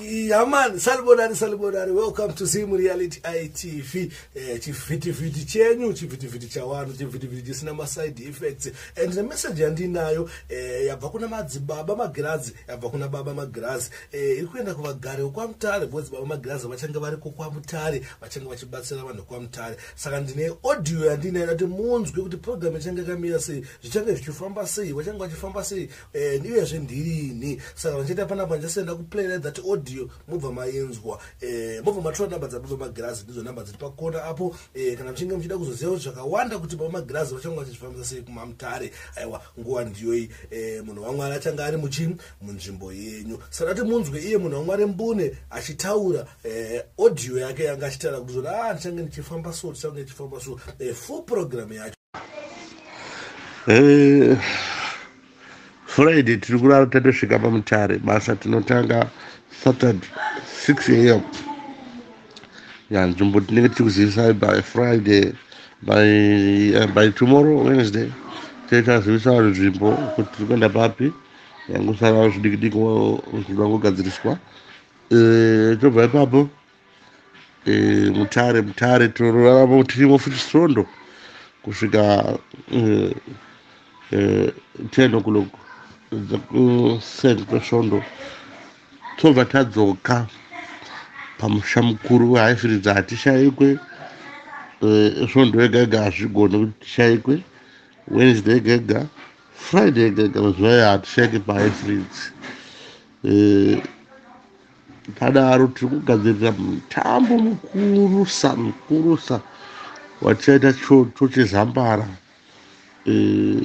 Yaman, salibonani salibonani, welcome to Zim Reality ITV. Eh, chivhitivhiti chenyu, chivhitivhiti chawanhu, chivhitivhiti chisina ma side effects. And the message yandinayo eh, yabva kuna madzibaba magirazi, yabva kuna baba magirazi. Eh, iri kuenda kuvagari kwamutare, because baba magirazi vachange variko kwamutare, vachange vachibatsira vanhu kwamutare. saka ndine audio yandinayo kuti munzwe kuti program ichange yakamira sei zvichange zvichifamba sei vachange vachifamba sei and eh, uyezve ndirini saka vandichaita panapa ndichasenda kuplayira that audio mobva mainzwa eh, mobva matora namba dzababa magirazi ndidzo namba dziri pakona apo eh, kana muchinge muchida kuzoziva kuti zvakawanda kuti baba magirazi vachange vachizvifambisa sei kumamutare aiwa nguva ndiyoyi munhu wamwari achange ari muchi munzvimbo yenyu saka kuti munzwe iye munhu wamwari mbune achitaura eh, audio yake yanga achitaura kuti zvoda ah, ndichange ndichifamba so ndichange ndichifamba so eh, full program yacho eh, friday tiri kurara tatosvika pamutare basa tinotanga saturday 6 am ya nzvimbo tinenge tiri kuzivisai by friday by, uh, by tomorrow wednesday taitazivisa vanhu nzvimbo kuti tiri kuenda papi yangusara zvidikidiki zvidangogadziriswa Eh, tobva ipapo eh, mutare mutare tinorarama tirimo futi svondo kusvika eh, eh, 10 o'clock kuseni kwesvondo tobva tadzoka pamusha mukuru wehaifiridza hatishayikwe eh, svondo yega yega hazvigoni kuti tishayikwe wednesday yega yega friday yega yega mazuva ayo hatishayike pahaifiridzi Eh, padaro tiri kugadzirira mutambo mukurusa mukurusa watichaita choto chezambara eh,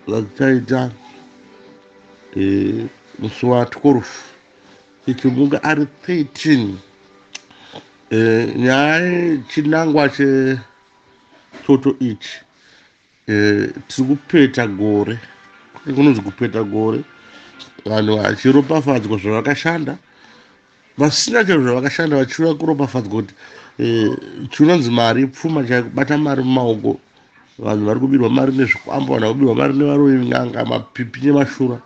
watichaita eh, musi wa 12 chichimuka ari 13 nyaya chinangwa chechoto ichi Eh, tiri kupeta gore kunonzi kupeta gore vanhu vachiropafadzwa zvavakashanda vasina chero zvavakashanda vachiuya kuropafadzwa kuti eh, chinonzi mari pfuma chakubata mari mumaoko vanhu vari kubirwa mari nezvikwambo vanhu vakubirwa mari nevaroyi n'anga mapipi nemashura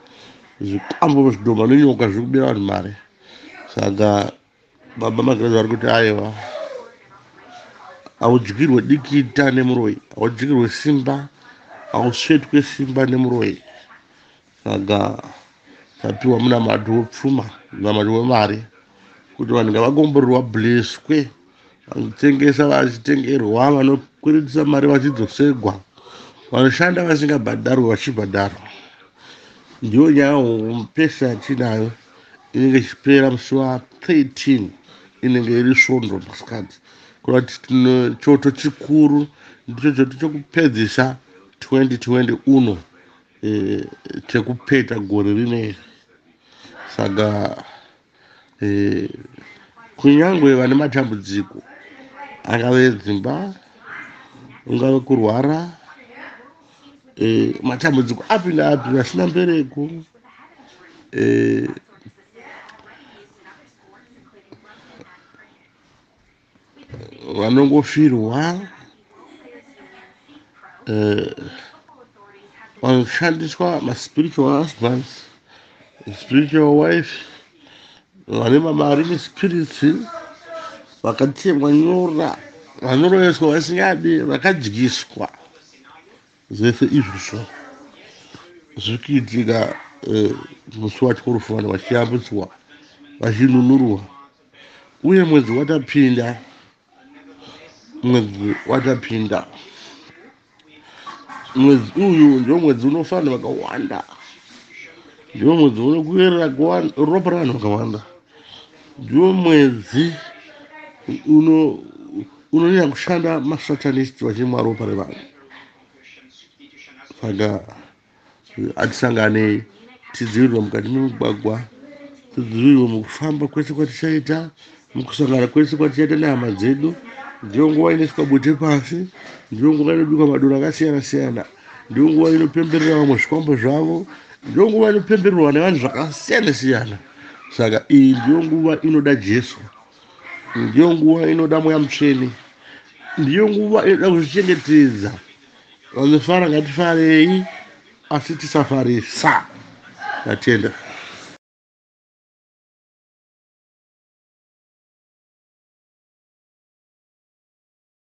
zvikwambo zvidhoma nenyoka zviri kubira vanhu mari saka baba magirazi vari kuti aiwa haudyirwe dikita nemuroyi haudyirwe simba hausvetwe simba nemuroyi saka tapiwa muna mati wopfuma namati wemari kuti vanhu ngavakomborerwa bleswe vanotengesa vachitengerwa vanokwiritisa mari vachidzosegwa vanoshanda vasingabhadharwe vachibhadharwa ndiyo nyaya homupesa yatinayo inenge ichipera musi wa 13 inenge iri svondo masikati kureva kuti tine choto chikuru ndicho choto chokupedzisa 2020 uno e, chekupeta gore rineri saka e, kunyange vane matambudziko angave dzimba ungave kurwara eh, matambudziko api naapi vasina mbereko eh, vanongofirwa eh, vanoshandiswa maspiritual husbands spiritual wife vane mamarine spirits vakatemwa nyora vanoroyeswa vasingadi vakadyiswa zvese izvozvo zviri kuitika eh, musi wacho kurufana vachiyambutswa vachinunurwa uye mwedzi watapinda mwedzi watapinda mwedzi uyu ndiwo mwedzi unofanira vakawanda ndiwo mwedzi unokuerera ropa ravanhu vakawanda ndiwo mwedzi uno unonyanya kushanda masatanist vachimwa ropa revanhu saka atisanganei tidzivirirwa mukati memugwagwa tidzivirirwa mukufamba kwese kwatichaita mukusangana kwese kwatichaita nehama dzedu ndiyo nguva inoiswa bute pasi ndiyo nguva inobikwa madoro akasiyana siyana ndiyo nguva inopemberera vamwe zvikwambo zvavo ndiyo nguva inopembererwa nevanhu zvakasiyana siyana saka iyi ndiyo nguva inoda jesu ndiyo nguva inoda mweya mutsvene ndiyo nguva inoda kuzvichengetedza vanofara ngatifarei asi tisafarisa tatenda